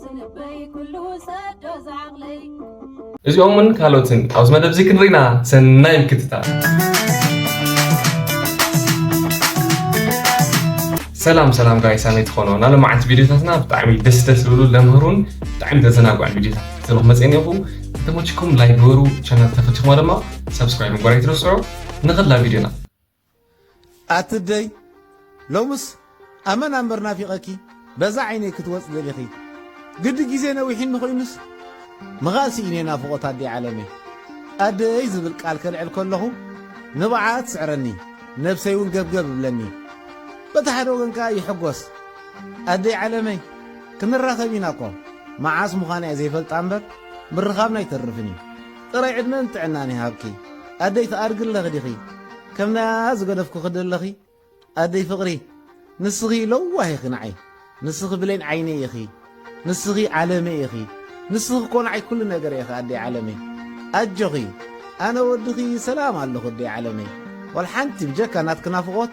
ዝንበይ ኩሉ ሰዶ ዝዓቕለይ እዚኦምን ካልኦትን ኣብዚ መደብ እዚ ክንርኢና ሰናይ ምክትታል ሰላም ሰላም ጋይ ሳመይ ትኾኖ ናለ መዓልቲ ቪድዮታትና ብጣዕሚ ደስ ደስ ዝብሉ ለምህሩን ብጣዕሚ ዘዘናግዑን ቪድዮታት ክትለኹ መፅአን ኢኹ ከተመችኩም ላይክ ግበሩ ቻናል ተፈቲኹማ ድማ ሰብስክራይብ ምግባር ኣይትረስዑ ንኽላ ቪድዮና ኣትደይ ሎምስ ኣመና እምበር ናፊቐኪ በዛ ዓይነይ ክትወጽ ደሊኺ ግዲ ግዜ ነዊሒኒ ኮይኑስ ምኻእ ስኢነ ናፍቖት ኣደይ ዓለመይ ኣደይ ዝብል ቃል ከልዕል ከለኹ ንብዓኣ ትስዕረኒ ነብሰይ እውን ገብገብ እብለኒ በቲ ሓደ ወገን ከዓ ይሕጎስ ኣደይ ዓለመይ ክንራኸብ ኢና እኮ መዓስ ምዃና እየ ዘይፈልጣ እምበር ምርኻብና ኣይተርፍን እዩ ጥራይ ዕድመን ጥዕናን ይሃብኪ ኣደይ ትኣድጊ ኣለኺ ዲኺ ከም ናይ ኣኣ ዝገደፍኩኺ ደለኺ ኣደይ ፍቅሪ ንስኺ ለዋህ ኢኺ ንዓይ ንስኺ ብሌን ዓይነይ ኢኺ ንስኺ ዓለመይ ኢኺ ንስኺ እኮ ንዓይ ኩሉ ነገረይ ኢኺ ኣደይ ዓለመይ ኣጆኺ ኣነ ወድኺ ሰላም ኣለኹ ኣደይ ዓለመይ ዋላ ሓንቲ ብጀካ ናትኪ ናፍቆት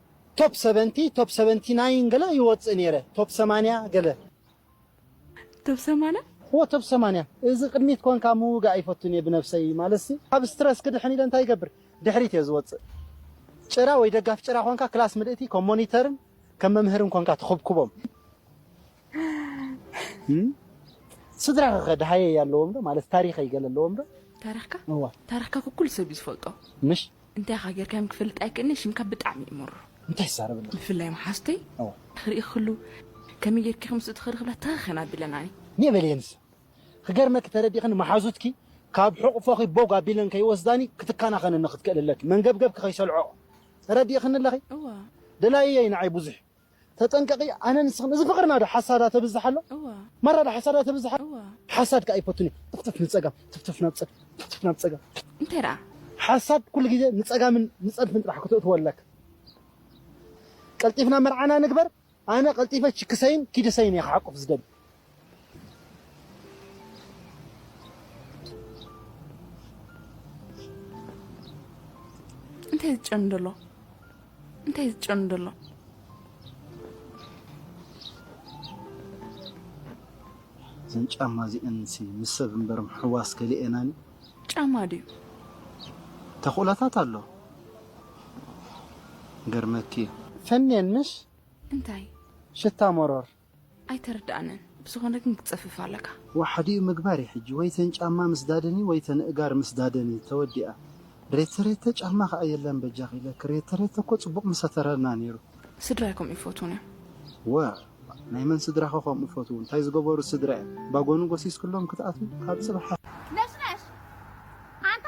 ቶፕ ሰቨንቲ ቶፕ ሰቨንቲ ናይን ገለ ይወጽእ ኔረ ቶፕ ሰማንያ ገለ። ቶብ ሰማና። እወ ቶብ ሰማንያ እዚ ቅድሚት ኮንካ ምውጋእ ኣይፈቱን እየ ብነብሰይ ማለትሲ ካብ ስትረስ ክድሕን ኢለ እንታይ ይገብር ድሕሪት እየ ዝወጽእ ጭራ ወይ ደጋፊ ጭራ ኮንካ ክላስ ምልእቲ ከም ሞኒተርን ከም መምህርን ኮንካ ትኹብኩቦም ስድራኺ ከ ደሃየይ ኣለዎም ዶ ማለት ታሪኸይ ገለ ኣለዎም ዶ? ታሪኽካ እዋ ታሪኽካ እኮ ኩሉ ሰብ እዩ ዝፈልጦ ምሽ እንታይ ኢኻ ጌርካዮም ክፈልጥ ኣይክእልን'የ ሽምካ ብጣዕሚ እዩ መርሮ እንታይ ትዛረብ ኣለኺ? ብፍላይ መሓዙተይ እዋ ክርኢ ክሉ ከመይ ጌርኪ ኢኺ ምስኡ ትኸዲ ክብላ ተኸኸን ኣቢለናኒ ኔእ በልየ ንሳ ክገርመኪ ተረዲእኽኒ መሓዙትኪ ካብ ሕቑፎኺ ቦግ ኣቢለን ከይወስዳኒ ክትከናኸነኒ ክትክእሊ ኣለኪ መንገብገብኪ ከይሰልዖኦ ተረዲእኽኒ ኣለኺ እዋ ደላይየይ ንዓይ ብዙሕ እዩ ተጠንቀቂ ኣነ ንስክን እዚ ፍቅርና ዶ ሓሳዳ ተብዝሕ ኣሎ ማራ ዶ ሓሳዳ ተብዝሕ ኣሎ ሓሳድ ካኣ ኣይፈቱን እዩ ትፍትፍ ንጸጋም ትፍትፍ ናብ ጸጋም ትፍትፍ ናብ ጸጋም እንታይ ዳኣ ሓሳድ ኩሉ ግዜ ንጸጋምን ንጸድፍን ጥራሕ ክትእትዎ ኣለካ ቀልጢፍና መርዓና ንግበር ኣነ ቀልጢፈ ችክሰይን ኪድሰይን እየ ክሓቁፍ ዝደሊ እንታይ ዝጨኑ ደሎ እንታይ ዝጨኑ ደሎ እዘን ጫማ እዚአን ሲ ምስ ሰብ እምበር ምሕዋስ ከሊኤናን ጫማ ድዩ ተኽእሎታት ኣሎ ገርመኪ እዩ ፈንየን ምስ እንታይ ሽታ መሮር ኣይተረዳኣንን ብዝኮነ ግን ክትጽፍፍ ኣለካ። ዋሓዲኡ ምግባር እዩ ሕጂ ወይ ተን ጫማ ምስዳደን እዩ ወይ ተን እእጋር ምስዳደን እዩ ተወዲኣ ሬተሬተ ጫማ ካኣ የለን በጃኺ ኢለኪ ሬተሬተ እኮ ጽቡቅ ምሰተረልና ኔሩ። ስድራይ ከምኡ ይፈትዉን እዮም። ዋእ ናይ መን ስድራኸ ከምኡ ፈትዉ እንታይ ዝገበሩ ስድራ እዮም ባጎኑ ጎሲስክሎም ክትኣትዉ ካብ ጽባሕ። ነሽነሽ ኣንታ።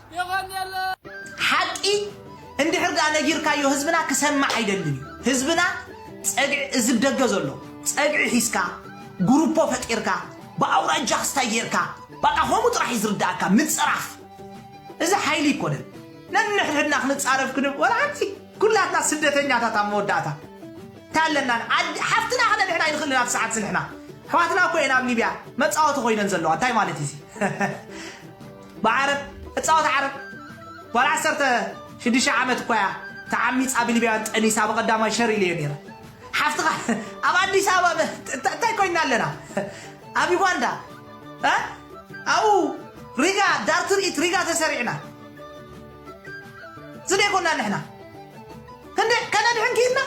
ሓቂ እንድሕር ድኣ ነጊርካዮ ህዝብና ክሰምዕ ኣይደልን እዩ ህዝብና ጸግዒ እዚ ብ ደገ ዘሎ ጸግዒ ሒዝካ ጉሩፖ ፈጢርካ ብ ኣውራጃ ክስታይ ጌርካ ባቃ ከምኡ ጥራሕ እዩ ዝርድኣካ ምጽራፍ እዚ ሓይሊ ኣይኮነን ነንሕድሕድና ክንጻረፍ ክንብ ወላ ሓንቲ ኩላትና ስደተኛታት ኣብ መወዳእታ እንታይ ኣለና ዓዲ ሓፍትና ከነ ንሕና ኣይንክእልን ኣብ ሰዓት ስንሕና ኣሕዋትና እኮ እየን ኣብ ሊብያ መጻወቲ ኮይነን ዘለዋ እንታይ ማለት እዩ እዚ ብዓረብ እጻወት ዓረብ ጓል ዓሰርተ ሽዱሽተ ዓመት እኳ እያ ተዓሚጻ ብሊብያውያን ጠኒሳ ብቀዳማይ ሸር ኢለዮ ነይረ ሓፍትኻ ኣብ ኣዲስ ኣበባ እንታይ ኮይና ኣለና ኣብ ዩጋንዳ ኣብኡ ሪጋ ዳር ትርኢት ሪጋ ተሰሪዕና ዝደይኮና ንሕና ክንደይ ከነድሕን ክኢልና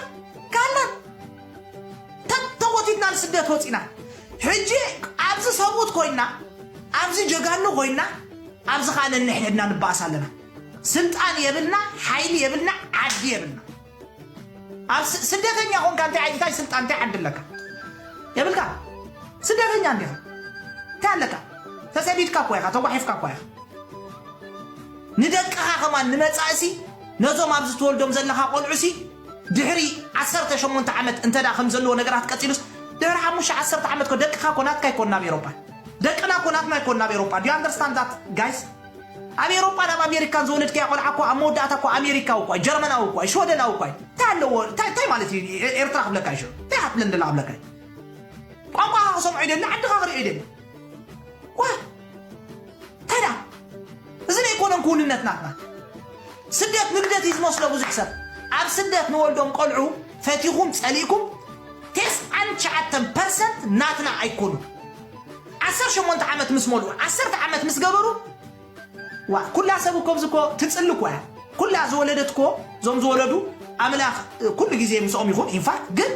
ካላን ተተጎቲትና ንስደት ወፂና ሕጂ ኣብዚ ሰብኡት ኮይና ኣብዚ ጀጋኑ ኮይና ኣብዚ ከዓ ነንሕድሕድና ንባእስ ኣለና ስልጣን የብልና ሓይሊ የብልና ዓዲ የብልና ኣብ ስደተኛ ኮንካ እንታይ ዓይነት እንታይ ስልጣን እንታይ ዓዲ ኣለካ የብልካ ስደተኛ እንዲኻ እንታይ ኣለካ ተሰዲድካ እኳ ኢኻ ተጓሒፍካ እኳ ኢኻ ንደቅኻ ከማን ንመፃእሲ ነዞም ኣብዚ ትወልዶም ዘለኻ ቆልዑሲ ድሕሪ ዓሰርተ ሸሞንተ ዓመት እንተድኣ ከምዚ ዘለዎ ነገራት ቀጺሉስ ድሕሪ ሓሙሽተ ዓሰርተ ዓመት እኮ ደቅኻ እኮ ናትካ ኣይኮኑን ኣብ ኤሮፓ ደቅና እኮ ናትና ኣይኮኑን ኣብ ኤሮፓ do you understand that guys ኣብ ኤሮፓን ኣብ ኣሜሪካን ዝወለድካያ ቆልዓ እኮ ኣብ መወዳእታ እኮ ኣሜሪካዊ እኳ እዩ ጀርመናዊ እኳ እዩ ሽወደናዊ እኳ እዩ እንታይ ኣለዎ እንታይ እንታይ ማለት እዩ ኤ- ኤርትራ ክብለካ እዩ ሽዑ እንታይ ሃትለን ደላ ክብለካ እዩ ቋንቋኻ ክሰምዖ ይደሊ ዓድኻ ክሪኦ ይደሊ ዋ ከዳ እዚ ዘይኮነን ክውንነት ናትና ስደት ንግደት እዩ ዝመስሎ ብዙሕ ሰብ ኣብ ስደት ንወልዶም ቆልዑ ፈቲኹም ጸሊእኩም ቴስዓን ትሽዓተን ፐርሰንት ናትና ኣይኮኑ ዓሰርተ ሸሞንተ ዓመት ምስ መልኡ ዓሰርተ ዓመት ምስ ገበሩ ዋ ኩላ ሰብ እኮ ብዚ እኮ ትጽሊ እኮ እያ ኩላ ዝወለደት እኮ እዞም ዝወለዱ ኣምላኽ እ፣ ኩሉ ግዜ ምስኦም ይኹን ኢንፋክት ግን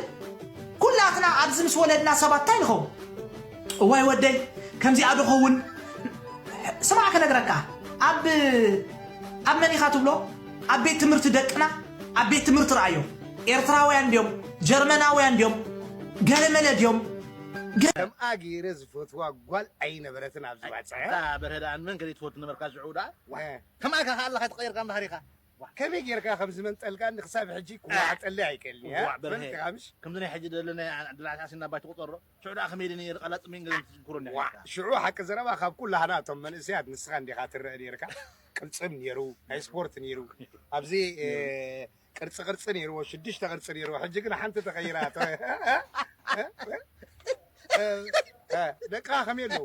ኩላትና ኣብዚ ምስ ወለድና ሰባት እንታይ ንኸውን እዋይ ወደይ ከምዚኣ ዶ ኸውን ስማዕ ክነግረካ ኣብ ኣብ መን ኢኻ ትብሎ ኣብ ቤት ትምህርቲ ደቅና ኣብ ቤት ትምህርቲ ረኣዮ ኤርትራውያን ድዮም ጀርመናውያን ድዮም ገለመለ ድዮም ከምኣ ገይረ ዝፈትዋ ጓል ኣይነበረትን ኣብ ዝበጽሐ። ኣታ በርሀ ደኣ ንመን ከ ዘይትፈቱ ነበርካ ሽዑ ደኣ ዋእ ከምኣ ኢካ ከኣ ኣለካ ተቀይርካ እንድሕር ኢካ ዋእ ከመይ ገይርካ ከም ዝመንጠልካኒ ክሳብ ሕጂ ክዋዓጠለይ ኣይክእልን እየ ዋእ በርሀ ከምዚ ናይ ሕጂ ደለናያ ድራዕሲ ኣሲና ባይ ትቁጸሮ ሽዑ ደኣ ከመይ ኢለ ነይረ ቃላጽ ምእንጋድ ክትዝክሮ ኔርካ። ዋእ ሽዑ ሓቂ ዘረባ ካብ ኩላህና እቶም መንእሰያት ንስኻ እንዲኻ ትረእ ኔርካ ቅልጽም ኔሩ ናይ ስፖርት ኔሩ ኣብዚ ቅርጺ ቅርጺ ኔርዎ ሽዱሽተ ቅርጺ ኔርዎ ሕጂ ግን ሓንቲ ተቀይራ እቶ ደቅኻ ከመይ ኣለዉ።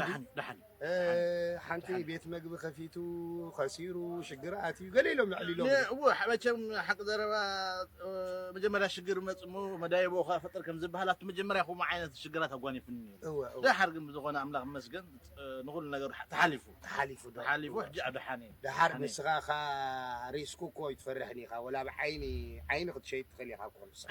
ደሓን ደሓን ሓንቲ ቤት መግቢ ከፊቱ ከሲሩ ሽግር ኣትዩ ገለ ኢሎም ልዕል ኢሎም እወ መቸም ሓቂ ዘረባ መጀመርያ ሽግር መፅ እሞ መዳየቦ ከዓ ፈጥር ከም ዝበሃል ኣብቲ መጀመርያ ከምኡ ዓይነት ሽግራት ኣጓኒፉኒ ደሓር ግን ብዝኾነ ኣምላኽ ይመስገን ንኹሉ ነገር ተሓሊፉ ተሓሊፉ ተሓሊፉ ሕጂ ኣብ ደሓን እየ ደሓር ንስኻ እኻ ሪስኩ እኮ ኣይትፈርሕን ኢኻ ወላ ብዓይኒ ዓይኒ ክትሸይጥ ትኽእል ኢኻ እኮ ንስኻ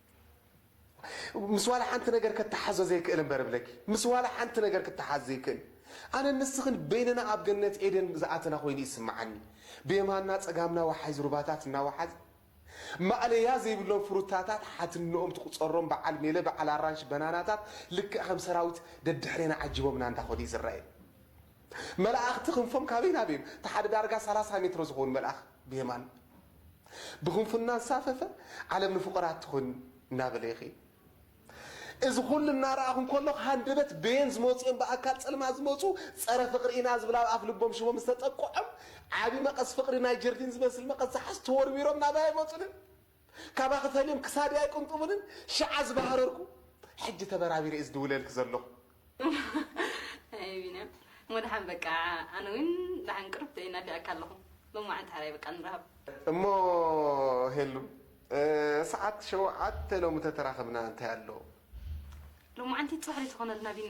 ምስ ዋላ ሓንቲ ነገር ከታሓዞ ዘይክእል እምበር እብለኪ ምስ ዋላ ሓንቲ ነገር ክታሓዝ ዘይክእል ኣነን ንስኽን በይንና ኣብ ገነት ኤደን ዝኣተና ኮይኑ እዩ ዝስምዓኒ ብየማንና ጸጋምና ዋሓይዝ ሩባታት እናዋሓዝ ማእለያ ዘይብሎም ፍሩታታት ሓትንኦም ትቁጸሮም በዓል ሜለ በዓል ኣራንሺ በናናታት ልክዕ ከም ሰራዊት ደድሕሬና ዓጂቦምና እንዳኸዱ እዩ ዝረኣየኒ መላእኽቲ ክንፎም ካበይ ናበይን እቲ ሓደ ዳርጋ ሰላሳ ሜትሮ ዝኸውን መልኣኽ ብየማን ብክንፉ እናንሳፈፈ ዓለም ንፍቑራት ትኹን እናበለ ይኺድ። እዚ ኹሉ እናረኣኹ እንከለኹ ሃንደበት በየን ዝመፁ እዮም ብኣካል ፅልማት ዝመፁ ፀረ ፍቕሪ ኢና ዝብል ኣብ ኣፍ ልቦም ሽቦም ዝተጠቅዖም ዓብዪ መቐስ ፍቕሪ ናይ ጀርዲን ዝመስል መቐስ ዝሓዙ ተወርዊሮም ናባየ መፁ ልል ካባኺ ፈልዮም ክሳደይ ኣይቅንጥቡንን ሽዓ ዝባህረርኩ ሕጂ ተበራቢረ እየ ዝድውለልኪ ዘለኹ። ኣየ ቢንያም እሞ ደሓን በቃ ኣነ ውን ደሓን ቅርብ ደይ ናፊቐካ ኣለኹ ሎማዓንቲ ሓራይ በቃ ንራኸብ። እሞ ሄሉ ሰዓት ሸውዓተ ሎሚ ተተራኽብና እንታይ ኣሎ። ሎማዓንቲ ጽባሕ ደይ ትኾነልና ቢኒ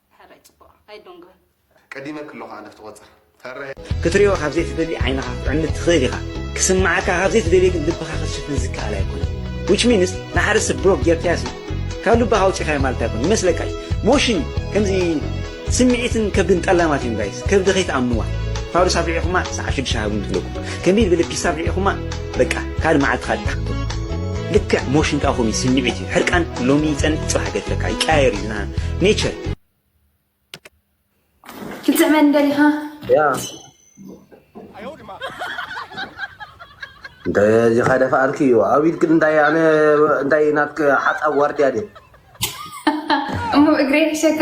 ሕራይ ጽቡቕ ኣይዶንግርን። ቀዲመ ክሎ ከኣ ነፍቲ ቆጽር ፈረ። ክትርእዮ ካብ ዘይትደሊ ዓይንኻ ክትዕምት ትኽእል ኢኻ፣ ክስምዓካ ካብ ዘይትደልዮ ግን ልብኻ ክትሽፍን ዝከኣል ኣይኮነን which means ንሓደ ሰብ ብሎክ ጌርካዮሲ ካብ ልብኻ ኣውጺኻዮ ማለት ኣይኮነን ይመስለካ እዩ ሞሽን ከምዚ ስምዒትን ከብድን ጠላማት እዮም ጋይስ ከብዲ ከይትኣምንዋ ፋዱስ ኣፍሪዕኹማ ሰዓብ ሽዱሽተ ሃቡኒ ትብለኩም ከንቢል ብልፒስ ኣፍሪዕኹማ በቃ ካልእ መዓልቲ ካልእ ታክቶ ልክዕ ሞሽን ከኣ ከምኡ ስምዒት እዩ ሕርቃን ሎሚ ይጸንት ጽባሕ ገድፈካ ይቀያየር እዩ ዝና ኔቸር ክትስዕበኒ ደሊኻ ያ እንደዚ ከደፋኣልኪ እዩ ኣብ ኢድክ እንታይ ኣነ እንታይ ናትክ ሓፃብ ዋርድያ ድየ እሞ እግረይ ሕሸካ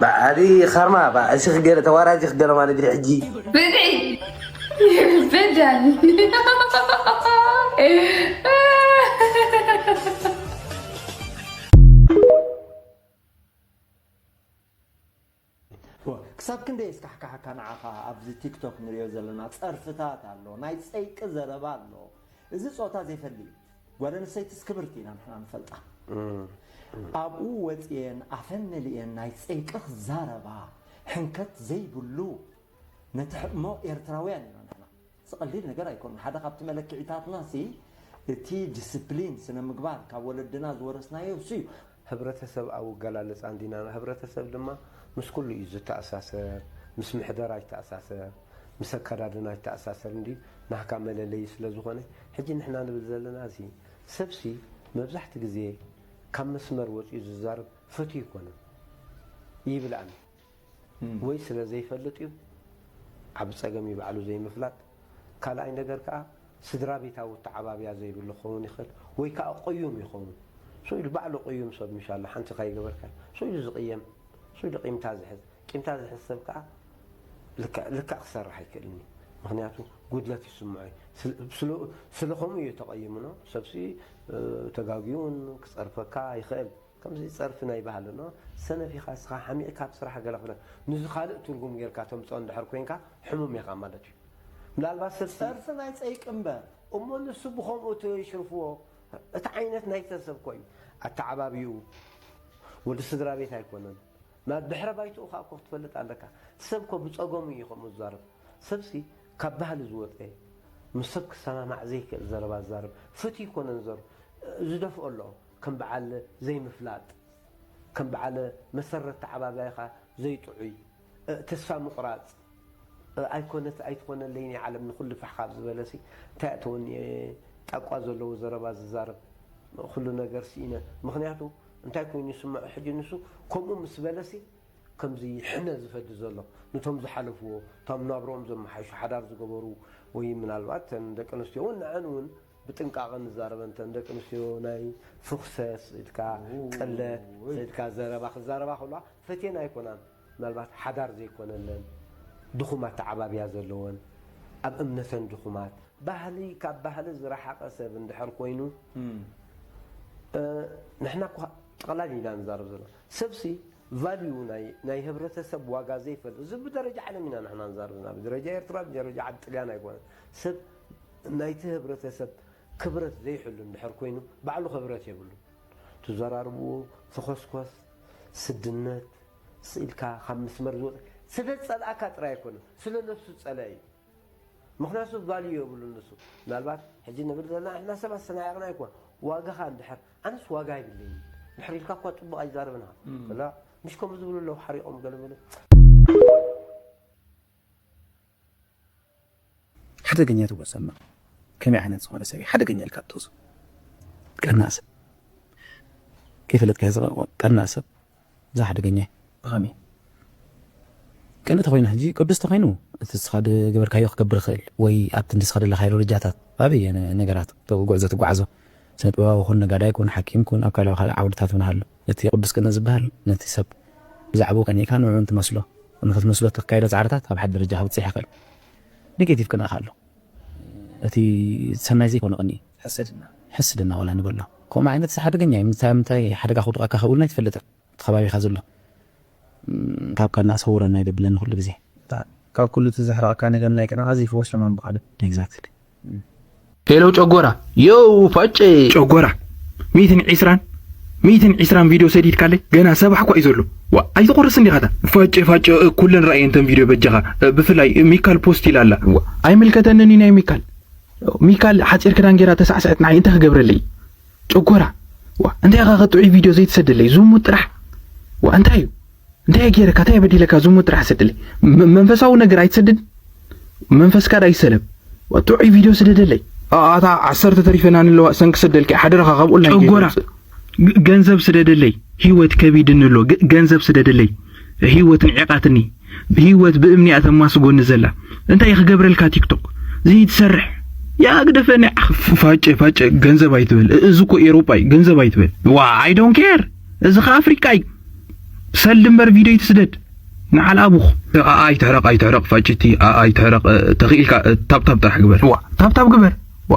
ባዓል ካርማ ባዕ እሲ ክገለ ተዋራጂ ክገለ ማለት ድዩ ሕጂ ብልዒ ይበዳል ክሳብ ክንደይ እስካሕካሓካ ንዓኻ ኣብዚ ቲክቶክ ንሪኦ ዘለና ፀርፍታት ኣሎ ናይ ፀይቂ ዘረባ ኣሎ እዚ ፆታ ዘይፈሊ እዩ ጓል ኣንስተይትስ ክብርቲ ኢና ንሕና ንፈልጣ ኣብኡ ወጽየን ኣፈን መሊኤን ናይ ጽይቅኽ ዛረባ ሕንከት ዘይብሉ ነቲ ሕእሞ ኤርትራውያን ኢና ንሕና እዚ ቀሊል ነገር ኣይኮነን ሓደ ካብቲ መለክዒታትና ሲ እቲ ድስፕሊን ስነምግባር ካብ ወለድና ዝወረስናዮ እሱ እዩ ህብረተሰብ ኣብ ኣገላልጻ እንዲና ህብረተሰብ ድማ ምስ ኩሉ እዩ ዝተኣሳሰር ምስ ምሕደራ ይተኣሳሰር ምስ ኣከዳድና ይተኣሳሰር እንድዩ ናህካ መለለዪ ስለ ዝኾነ ሕጂ ንሕና ንብል ዘለና እዚ ሰብሲ መብዛሕቲ ግዜ ካብ መስመር ወጽዩ ዝዛረብ ፍትው ኣይኮነን ይብል ኣነ ወይ ስለ ዘይፈልጥ እዩ ዓቢ ጸገም እዩ ባዕሉ ዘይምፍላጥ ካልኣይ ነገር ከኣ ስድራቤታዊ ኣተዓባብያ ዘይብሉ ክኸውን ይኽእል ወይ ከኣ ቁዩም ይኸውን ሱይ ኢሉ ባዕሉ ቁዩም ሰብ ምሽ ኣሎ ሓንቲ ካይገበርካዮ ሱይ ኢሉ ዝቅየም ሱይ ኢሉ ቂምታ ዝሕዝ ቂምታ ዝሕዝ ሰብ ከኣ ልክዕ ልክዕ ክሰርሕ ኣይክእልን እዩ ምክንያቱ ጉድለት ይስምዖ እዩ ስለ ከምኡ እዩ ተቀይምኖ ሰብሲ ተጋግዩ ውን ክጸርፈካ ይኽእል ከምዚ ጸርፊ ናይ ባህሊ ን ሰነፍ ኢካ እስካ ሓሚቅካ ኣብ ስራሕ ገለ ክብለ ንዚ ካልእ ትርጉም ገርካ ተምጽኦ እንድሕር ኮንካ ሕሙም ኢካ ማለት እዩ ምናልባት ሰብ ጸርፊ ናይ ጸይቂ እምበር እሞ ንሱ ብከምኡ ተይሽርፍዎ እቲ ዓይነት ናይ ሰብ ሰብ እኮ እዩ ኣተዓባብይኡ ወዲ ስድራቤት ኣይኮነን ናብ ድሕረ ባይትኡ ከኣ እኮ ክትፈልጥ ኣለካ እቲ ሰብ እኮ ብጸገሙ እዩ ከምኡ ዝዛረብ ሰብሲ ካብ ባህሊ ዝወጸ ምስ ሰብ ክሰማማዕ ዘይክእል ዘረባ ዝዛረብ ፍትዩ እኮ ነንዘሩ ዝደፍኦ ኣሎ ከም በዓል ዘይምፍላጥ ከም በዓል መሰረት ተዓባብያኻ ዘይጥዑይ እእ ተስፋ ምቑራጽ እእ ኣይኮነት ኣይትኾነለይን እያ ዓለም ንኹሉ ፋሕ ካብ ዝበለሲ እንታይ እያ ተወንየ ጣቋ ዘለዎ ዘረባ ዝዛረብ ኹሉ ነገር ስኢነ ምኽንያቱ እንታይ ኮይኑ ይስመዖ ሕጂ ንሱ ከምኡ ምስ በለሲ ከምዚ ሕነ ዝፈዲ ዘሎ ንቶም ዝሓለፍዎ እቶም ናብርኦም ዘመሓይሹ ሓዳር ዝገበሩ ወይ ምናልባት እተን ደቂ ኣንስትዮ እውን ንዐን እውን ብጥንቃቐ ንዛረበን እተን ደቂ ኣንስትዮ ናይ ፍኹሰስ ኢልካ ቅለት ሰድካ ዘረባ ክዛረባ ከለዋ ፈትየን ኣይኮናን ምናልባት ሓዳር ዘይኮነለን ድኹም ኣተዓባብያ ዘለወን ኣብ እምነተን ድኹማት ባህሊ ካብ ባህሊ ዝረሓቐ ሰብ እንድሕር ኮይኑ ንሕና እኳ ጠቕላሊ ኢና ንዛረብ ዘለና ሰብሲ ቫልዩ ናይ ህብረተሰብ ዋጋ ዘይፈልጥ እዚ ብደረጃ ዓለም ኢና ንሕና ንዛረብ ዘለና ብደረጃ ኤርትራ ብደረጃ ዓዲ ጥልያን ኣይኮነን ሰብ ናይቲ ህብረተሰብ ክብረት ዘይሕሉ እንድሕር ኮይኑ ባዕሉ ክብረት የብሉን ትዘራርብዎ ተኾስኮስ ስድነት ስኢልካ ካብ ምስመር ዝወፀ ስለ ዝፀልኣካ ጥራይ ኣይኮነን ስለ ነብሱ ዝፀለኣ እዩ ምክንያቱ ቫልዩ የብሉን ንሱ ምናልባት ሕጂ ንብል ዘለና ንሕና ሰባት ስለናዕቕና ኣይኮን ዋጋኻ እንድሕር ኣነስ ዋጋ ኣይብለይን ድሕሪ ኢልካ እኳ ፅቡቕ ኣይዛረብን ኢኻ ምሽ ከምኡ ዝብሉ ኣለዉ ሓሪቖም ገለመለ ሓደገኛ ትብሎ ሰማ ከመይ ዓይነት ዝኾነ ሰብ ሓደገኛ ኢልካ ትወስዶ ቀናእ ሰብ ከይፈለጥካ ዝቐርቦ ቀናእ ሰብ እዛ ሓደገኛ ብኸመይ ቅን ተኮይኑ ሕጂ ቅዱስ ተኮይኑ እቲ ንስኻ ገበርካዮ ክገብር ይኽእል ወይ ኣብቲ ንስኻ ደለካዮ ደረጃታት ኣበየ ነገራት ጉዕዞ ትጓዓዞ ስነ ጥበባዊ ኩን ነጋዳይ ኩን ሓኪም ኩን ኣብ ካልእ ካልእ ዓውድታት ውን ኣሎ እቲ ቅዱስ ቅነ ዝበሃል ነቲ ሰብ ብዛዕብኡ ቀኒእካ ንዕኡ እንትመስሎ ንኽትመስሎ እተካይዶ ጻዕርታት ኣብ ሓደ ደረጃ ከብጽሕ ይኽእል። ኔጌቲቭ ቅነ ከኣ ኣሎ። እቲ ሰናይ ዘይኮነ ቅንኢ። ሕስድና። ሕስድና ዋላ ንበሎ ከምኡ ዓይነትስ ሓደገኛ እዩ። ምንታይ ኣብ ምንታይ ሓደጋ ከውድቐካ ከምኡ'ውን ኣይትፈልጥን። ኣብቲ ከባቢኻ ዘሎ ካብ ቀናእ ሰውረና ይደብለኒ ኩሉ ግዜ። ካብ ኩሉ እቲ ዘሕርቐካ ነገር ናይ ቀናኣ ዘይፈወሶ ምንባር እዩ። Exactly። ሄሎ ጨጎራ ዮው ፋጨ። ጨጎራ ሚእትን ዒስራን ሚእትን ዒስራን ቪድዮ ሰዲድካለይ ገና ሰባሕ እኳ እዩ ዘሎ ዋእ ኣይትቁርስን ዲኻ እታ። ፋጨ ፋጨ ኩለን ረኣየን እተን ቪድዮ በጃኻ ብፍላይ ሚካል ፖስት ኢላ ኣላ። ኣይምልከተንን እዩ ናይ ሚካል። ሚካል ሓጺር ክዳን ጌራ ተሳዕስዕት ንዓይ እንታይ ክገብረለይ እዩ። ጨጎራ ዋእ እንታይ ኢኻ ከጥዑይ ቪድዮ ዘይትሰደለይ ዝሙት ጥራሕ ዋእ እንታይ እዩ እንታይ ገይረካ እንታይ በዲለካ ዝሙት ጥራሕ ሰደለይ መንፈሳዊ ነገር ኣይትሰድድ መንፈስካ ዳ ይሰለብ ጥዑይ ቪድዮ ስደደለይ ኣታ ዓሰርተ ተሪፈና ንለዋ ሰን ክሰደልኪ ሓደራኻ ካብኡ ጨጎራ ገንዘብ ስደደለይ ህይወት ከቢድኒ ኣሎ ገንዘብ ስደደለይ ሂወት ንዒቃትኒ ሂወት ብእምኒ እያ ተማስጎኒ ዘላ እንታይ ክገብረልካ ቲክቶክ ዝይትሰርሕ ያ ግደፈኒ ዓኽ ፋጨ ፋጨ ገንዘብ ኣይትበል እዚ እኮ ኤሮጳ እዩ ገንዘብ ኣይትበል ዋ ኣይ ዶን ኬር እዚ ከ ኣፍሪቃ እዩ ሰልዲ እምበር ቪድዮ ይትስደድ ንዓል ኣቡኽ ኣኣ ይትሕረቕ ኣይትሕረቕ ፋጭቲ ኣኣ ይትሕረቕ ተኽኢልካ ታብታብ ጥራሕ ግበር ዋ ታብታብ ግበር ዋ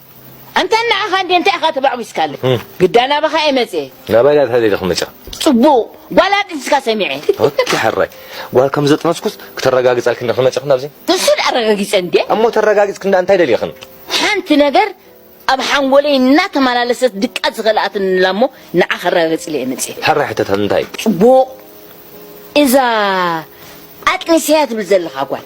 ኣንታ ንዓኻ እንድየ እንታይ ኢኻ ተባዕቢስካለ ግዳ ናባኻ እየ መጽየ። ናባይ እያ ተደልየ ክመጽኣ። ጽቡቕ ጓል ኣጥንስካ ሰሚዐ። ኦኬ ሕራይ ጓል ከም ዘጥነስኩስ ክተረጋግጻልክን ዶ ክመጽኽን ኣብዚ? ንሱ ድኣ ኣረጋጊጸ እንድየ። እሞ ተረጋጊጽክን ድኣ እንታይ ደሊኽን? ሓንቲ ነገር ኣብ ሓንጎለይ እናተመላለሰት ድቃስ ዝኸልኣትኒ ኣላ እሞ ንዓ ከረጋግጽለ እየ መጽየ። ሕራይ ሕተታ እንታይ? ጽቡቕ እዛ ኣጥኒሰያ ትብል ዘለኻ ጓል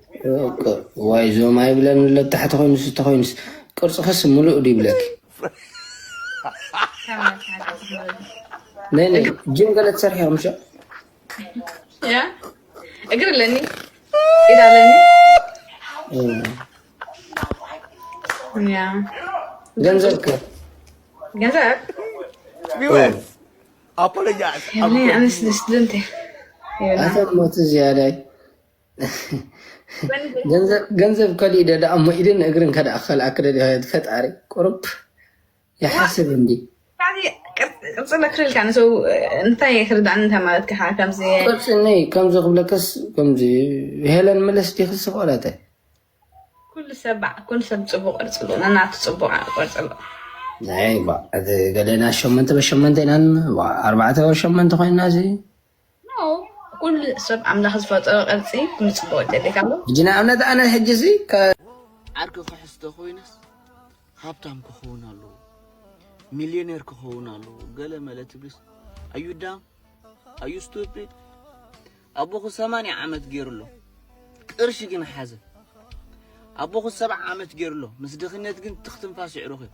ዋይ ዞም ኣይብለን ኣሎ ታሕቲ ኮይኑስ እንተኮይኑስ ቅርፅኽስ ሙሉእ ድ ይብለኪ ነይ ጅም ገለ ትሰርሒ ከምሸ እግር ኣለኒ ኢድ ኣለኒ ገንዘብ ከ ገንዘብ ኣነ ስድስት ልንተ ኣተ ሞት ዝያዳይ ገንዘብ ከሊኡ ደዳ እሞ ኢድን እግርን ከደኣ ከልኣ ክደድያ ፈጣሪ ቁርብ ይሓስብ እንዲ ቅፅለ ክልልካ ንሰው እንታይ ክርዳእኒ እንታይ ማለት ከ ከምዚ ቅፅኒ ከምዚ ክብለከስ ከምዚ ሄለን መለስ ዲክስ ቆረተ ኩሉ ሰብ ባዕ ኩሉ ሰብ ፅቡቅ ቅርፂ ኣሎ ነናቱ ፅቡቅ ቅርፂ ኣሎ ናይ ገለና ሸመንተ በሸመንተ ኢና ኣርባዕተ በሸመንተ ኮይና እዚ ኩሉ ሰብ ኣምላኽ ዝፈጠሮ ቅርጺ ክምጽእ ይደልካ ኣሎ። ሕጂ ንኣብነት ኣነ ሕጂ እዚ ዓርኪ ክሕዝ ተኾይነስ ሃብታም ክኸውን ኣለዎ፣ ሚልዮኔር ክኸውን ኣለዎ ገለ መለ ትብልስ ኣዩ ዳም ኣዩ ስቱፒድ ኣቦኹ ሰማንያ ዓመት ገይሩ ኣሎ ቅርሺ ግን ሓዘ ኣቦኹ ሰብዓ ዓመት ገይሩ ኣሎ ምስ ድኽነት ግን ትኽትንፋስ ይዕሩኽ እዩ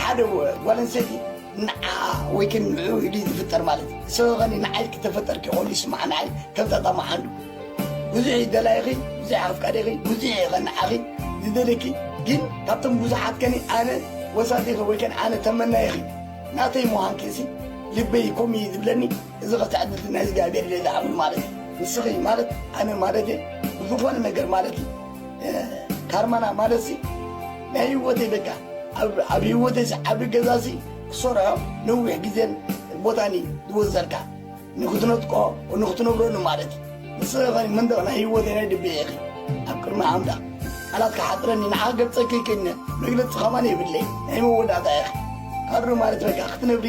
ሓደ ጓል ኣንስተይቲ ንዓኣ ወይ ከ ንዕኡ ኢሉ እዩ ዝፍጠር ማለት እዩ ሰበኸኒ ንዓይ ክተፈጠርኪ ኮይኑ ይስማዕ ንዓይ ከምዛ ጣማሓንዱ ብዙሕ እዩ ደላይኺ ብዙሕ ኣፍቃሪኺ ብዙሕ እዩ ኸ ንዓኺ ዝደልየኪ ግን ካብቶም ብዙሓት ከኒ ኣነ ወሳቲኺ ወይ ከን ኣነ ተመናይኺ ናተይ ምዃንኪ እሲ ልበይ ከምኡ እዩ ዝብለኒ እዚ ክትዕ እዚ ናይ እግዚኣብሔር ኢለ ዝኣምን ማለት እዩ ንስኺ ማለት ኣነ ማለት እየ ብዝኾነ ነገር ማለት እዩ ካርማና ማለት እዚ ናይ ህይወተይ በቃ ኣብ ህይወተይ ዓብ ገዛ እዚ ክሰርሖ ነዊሕ ግዜን ቦታን እዩ ዝወዘልካ ንክትነጥቆ ንክትነብረሉ ማለት እዩ ንስኺ ኸ መንደቕ ናይ ህይወተይ ናይ ልበይ ኢኺ ኣብ ቅድሚ ኣምላኽ ቃላት ክሓጥረኒ ንዓ ገልፀ ከይክእልነ መግለፂ ከማን የብለይ ናይ መወዳእታ ኢኺ ካድሮ ማለት በቃ ክትነብሪ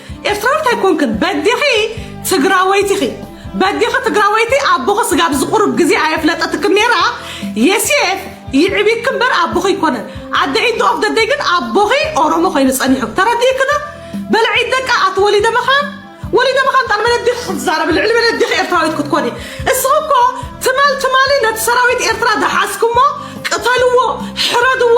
ኤርትራዊት ኣይኮንክን በዲኺ ትግራወይቲ ኢኺ በዲኺ ትግራወይቲ ኣቦኺ ስጋብ ዝቑርብ ግዜ ኣየፍለጠትክን ነይራ የሴፍ ይዕቢክ እምበር ኣቦኺ ኣይኮነን ኣደ ኢንድ ኦፍ ደደይ ግን ኣቦኺ ኦሮሞ ኮይኑ ጸኒሑ ተረዲእክዶ በልዒ ደቃ ኣቲ ወሊደ መኻን ወሊደ መኻን ጣል መን ኣዴኺ ክትዛረቢ ልዕሊ መን ኣዴኺ ኤርትራዊት ክትኮኒ እስኺ እኮ ትማል ትማሊ ነቲ ሰራዊት ኤርትራ ዝሓዝኩሞ ቅተልዎ ሕረድዎ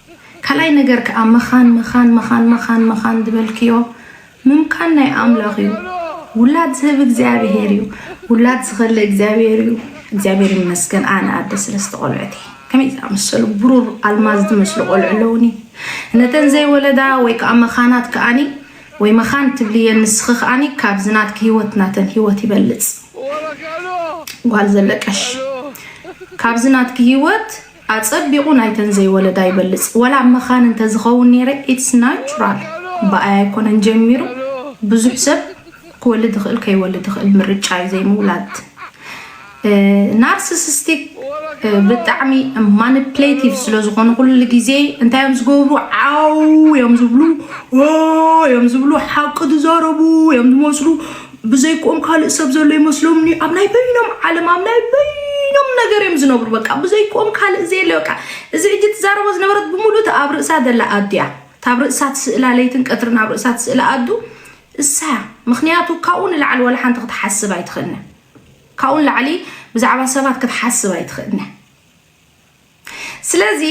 ካልኣይ ነገር ከኣ መኻን መኻን መኻን መኻን መኻን ዝበልክዮ ምምካን ናይ ኣምላኽ እዩ ውላድ ዝህብ እግዚኣብሄር እዩ ውላድ ዝኸልእ እግዚኣብሄር እዩ እግዚኣብሄር ይመስገን ኣነ ኣደ ስለስተ ቆልዑት እየ ከመይ ዝኣመሰሉ ብሩር ኣልማዝ ዝመስሉ ቆልዑ ኣለውኒ ነተን ዘይወለዳ ወይ ከዓ መኻናት ከዓኒ ወይ መኻን ትብልየ ንስኺ ከዓኒ ካብዚ ናትኪ ሂወት ናተን ሂወት ይበልፅ ጓል ዘለቀሽ ካብዚ ናትኪ ሂወት ኣጸቢቁ ናይተን ዘይወለዳ ይበልጽ ወላ ኣብ መኻን እንተ ዝኸውን ኔረ ኢትስ ናቹራል ብኣይ ኣይኮነን ጀሚሩ ብዙሕ ሰብ ክወልድ ይኽእል ከይወልድ ይኽእል ምርጫ ዩ ዘይምውላድ ናርስስስቲክ ብጣዕሚ ማኒፕሌቲቭ ስለ ዝኾኑ ኩሉ ግዜ እንታይ እዮም ዝገብሩ ዓው እዮም ዝብሉ እዮም ዝብሉ ሓቂ ዝዛረቡ እዮም ዝመስሉ ብዘይክኦም ካልእ ሰብ ዘሎ ይመስሎምን እዩ ኣብ ናይ በይኖም ዓለም ኣብ ናይ በይኖም ነገር እዮም ዝነብሩ በቃ ብዘይክኦም ካልእ ዘየለ በቃ እዚ ሕጂ ትዛረቦ ዝነበረት ብምሉእ ኣብ ርእሳ ዘላ ኣድያ ታብ ርእሳ ትስእላ ለይትን ቀትርን ኣብ ርእሳ ትስእላ ኣዱ እሳያ ምክንያቱ ካብኡ ንላዕሊ ወላ ሓንቲ ክትሓስብ ኣይትኽእልነ ካብኡ ንላዕሊ ብዛዕባ ሰባት ክትሓስብ ኣይትኽእልነ ስለዚ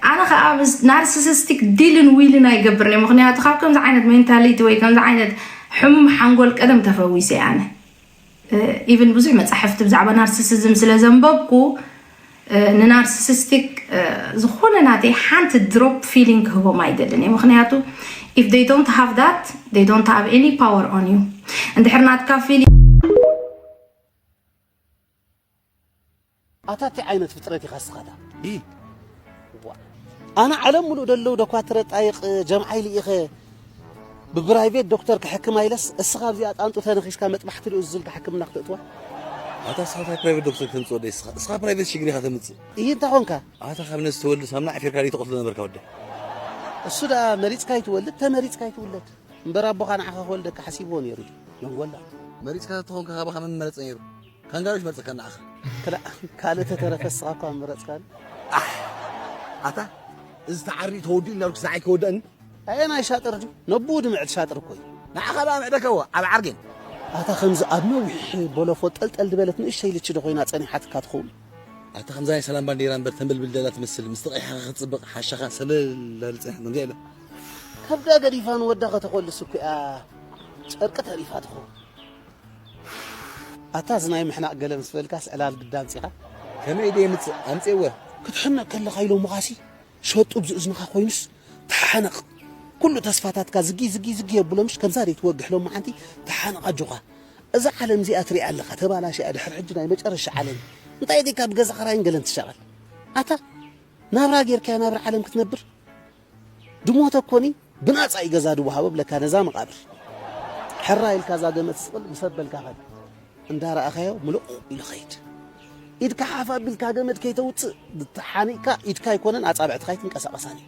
ኣነ ከዓ ናርሲሲስቲክ ዲልን ዊልን ኣይገብርን እየ ምክንያቱ ካብ ከምዚ ዓይነት ሜንታሊቲ ወይ ከምዚ ዓይነት ሕሙም ሓንጎል ቀደም ተፈዊሰ ኣነ ኢቨን ብዙሕ መፃሕፍቲ ብዛዕባ ናርሲሲዝም ስለ ዘንበብኩ ንናርሲሲስቲክ ዝኾነ ናተይ ሓንቲ ድሮፕ ፊሊንግ ክህቦም ኣይደልን እየ ምክንያቱ ኢፍ ይ ዶንት ሃቭ ዳት ይ ዶንት ሃቭ ኒ ፓወር ኦን ዩ እንድሕር ናትካ ፊሊንግ ኣታ ታይ ዓይነት ፍጥረት ኢኻ እስኻ እታ ዲል ዋእ ኣነ ዓለም ሙሉእ ደለዉ ደኳትረ ጣይቅ ጀምዓይ ልኢኸ ብብራይቬት ዶክተር ክሕክማ ኢለስ እስኻ ኣብዚኣ ጣንጡ ተነኺስካ መጥባሕቲ ልኡዝ ዝልካ ሕክምና ክትእትዋ ኣታ እስኻ ታይ ፕራይቬት ዶክተር ክተምፅእ ወደይ እስኻ እስኻ ፕራይቬት ሽግር ኢኻ ተምፅእ እሂ እንታይ ኾንካ ኣታ ካብ ነዚ ተወልድ ሳምና ዓፊርካ ደይ ተቐትሎ ነበርካ ወደይ እሱ ደኣ መሪፅካ ኣይትወልድ ተመሪፅካ ኣይትውለድ እምበር ኣቦኻ ንዓኻ ክወልደካ ሓሲብዎ ነይሩ እዩ መንጎላ መሪፅካ ተተኾንካ ካባኻ መን ምመረፀ ነይሩ ካንጋሮች መርጽካ ንዓኻ። ክላእ ካልእ ተተረፈ እስኻ እኳ ምመረጽካኒ። ኣሕ ኣታ እዚ ተዓርዩ ተወዲኡ እንዳበልኩ ስራዕ ኣይከወደእን። ኣየናይ ሻጥር ድዩ ነብኡ ድምዕት ሻጥር እኮ እዩ። ንዓኻ ደኣ ምዕደከዎ ኣብ ዓርጌን። ኣታ ከምዚ ኣብ ነዊሕ ቦሎፎ ጠልጠል ድበለት ንእሽተይ ልቺ ዶ ኮይና ጸኒሓትካ ትኸውን። ኣታ ከምዛ ናይ ሰላም ባንዴራ እምበር ተንበልብል ደላ ትመስል ምስ ተቀይሓ ከ ክትጽብቅ ሓሻኻ ሰለል ዳብል ጸኒሓ ከምዚኣ ኢላ። ከብዳ ገዲፋ ንወዳ ከተኾልስ እኮ እያ ጨርቂ ተሪፋ ትኸውን። ኣታ እዚ ናይ ምሕናቕ ገለ ምስ በልካስ ዕላል ግዳ ኣምጺኻ። ከመይ ኢለ የምጽእ ኣምጺኤወ። ክትሕነቕ ከለኻ ኢሎምኻሲ ሸጡብ ዝእዝንኻ ኮይኑስ ተሓነቕ ኩሉ ተስፋታትካ ዝጊ ዝጊ ዝጊ የብሎምሽ ከምዛ ድዩ ትወግሕ ሎሚ ሓንቲ ተሓነቕ ኣጆኻ እዛ ዓለም እዚኣ ትሪኣ ኣለኻ ተባላሽያ ድሕሪ ሕጂ ናይ መጨረሻ ዓለም እዩ እንታይ ጌርካ ብገዛ ኽራይን ገለን ትሻቐል ኣታ ናብራ ጌርካያ ናብራ ዓለም ክትነብር ድሞ ተኮኒ ብናጻ እዩ ገዛ ድወሃቦ ብለካ ነዛ መቓብር ሕራይ ኢልካ እዛ ገመት ስቕል ምስ ኣበልካ ኸድ እንዳረኣኻዮ ምልቑቕ ኢሉ ኸይድ ኢድካ ሓፍ ኣቢልካ ገመድ ከይተውፅእ ተሓኒቕካ ኢድካ ኣይኮነን ኣፃብዕትኻ ኣይትንቀሳቐሳን እዩ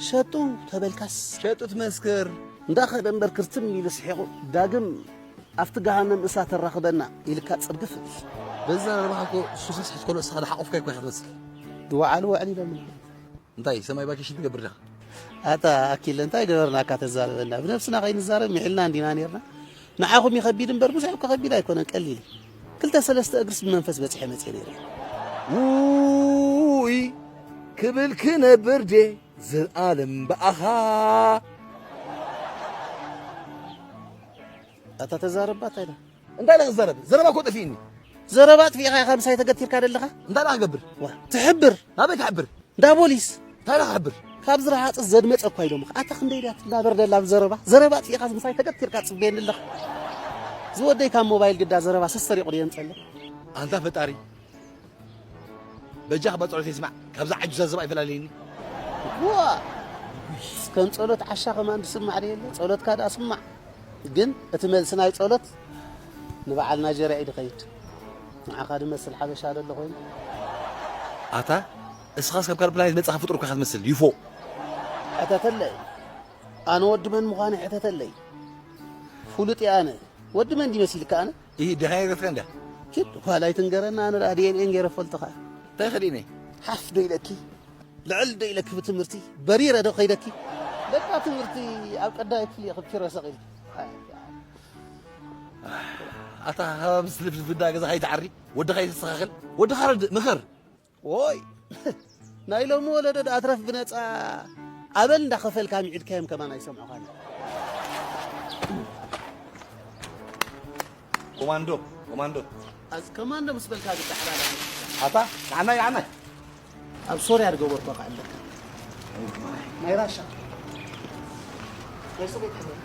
ሸጡ ተበልካስ ሸጡ ትመስክር እንዳኸደ እምበር ክርትም ኢሉ ስሒቑ ዳግም ኣብቲ ገሃነም እሳት ተራኽበና ኢልካ ፅርግፍ በዛ ረባሕኮ ሱሰስ ሕትኮሎ እስኻ ሓቑፍካ ይኮ ክትመስል ድወዓሉ ወዕሊ ኢሎም እንታይ ሰማይ ቫኬሽን ትገብር ዲኻ? ኣታ ኣኪለ እንታይ ገበርናካ ተዛረበና ብነብስና ከይንዛረብ ምሒልና እንዲና ነርና ንዓኹም ይኸቢድ እምበር ብዙሕ እኮ ከቢድ ኣይኮነን ቀሊል ክልተ ሰለስተ እግርስ ብመንፈስ በፂሐ መፅየ ነይረ ውይ ክብል ክነብር ዴ ዘልኣለም ብኣኻ ኣታ ተዛረባ እንታይ ዳ እንታይ ዳ ክዛረብ ዘረባ እኮ ጠፊእኒ ዘረባ ኣጥፊእኻ ኢኻ ምሳይ ተገቲርካ ደለኻ እንታይ ዳ ክገብር ትሕብር ናበይ ክሕብር እንዳ ፖሊስ እንታይ ዳ ክሕብር ካብ ዝረሃፅ ዘድመፀ እኳ ኢሎምኻ ኣታ ክንደይ ድያ ትናበር ደላ ዘረባ ዘረባ ኣጥፊእኻ ምሳይ ተገቲርካ ፅበየኒ ኣለኻ ዝወደይ ካብ ሞባይል ግዳ ዘረባ ሰሰሪቑ ድየ ንፀለ ኣንታ ፈጣሪ በጃኽ እባ ጸሎተይ ስማዕ ካብዛ ዓጁዛ ዝባእ ይፈላልየኒ። ዋእ ከም ጸሎት ዓሻ ከማን ዝስማዕ ዶ የለ ጸሎትካ ደኣ ስማዕ ግን እቲ መልሲ ናይ ጸሎት ንበዓል ናይጀርያ እዩ ድኸይድ ንዓኻ ድመስል ሓበሻ ዶ ኣሎ ኮይኑ ኣታ እስኻስ ካብ ካልእ ፕላኔት መጻኻ ፍጡር እኳ ኢኻ ትመስል ዩፎ ሕተተለይ ኣነ ወዲ መን ምዃነይ ሕተተለይ ፍሉጥ እየ ኣነ ወዲ መን ድዩ መሲልካ ኣነ እሂ ደሃይ ኤረትራ እንድያ። ኪድ ኋል ኣይትንገረና ኣነ ደኣ DNA ጌረ ክፈልጦ ከኣ። እንታይ ከዲነ ሓፍ ዶ ኢለኪ ልዕል ዶ ኢለኪ ብትምህርቲ በሪረ ዶ ከይደኪ በቃ ትምህርቲ ኣብ ቀዳማይ ክፍሊ ኢኺ ኪሮ ሰቂልኪ ኣታ ምስ ልፍልፍ እንዳ ገዛኻ ኣይትዓሪ ወድኻ ይተስተኻኽል ወድኻ ረድእ ምኸር ዎይ ናይ ሎሚ ወለዶ ድኣ ትረፍ ብነጻ ኣበል እንዳኸፈልካ ምዒድካዮም ከማን ኣይሰምዑኻን ኮማንዶ ኮማንዶ ኣዝ ኮማንዶ ምስ በልካ ዝዳሕራላ ኣታ ንዓና ይዓና ኣብ ሶርያ ዝገበርኮ ከዓ ኣለካ ናይ ራሻ ናይ ሶቤት ሕብረት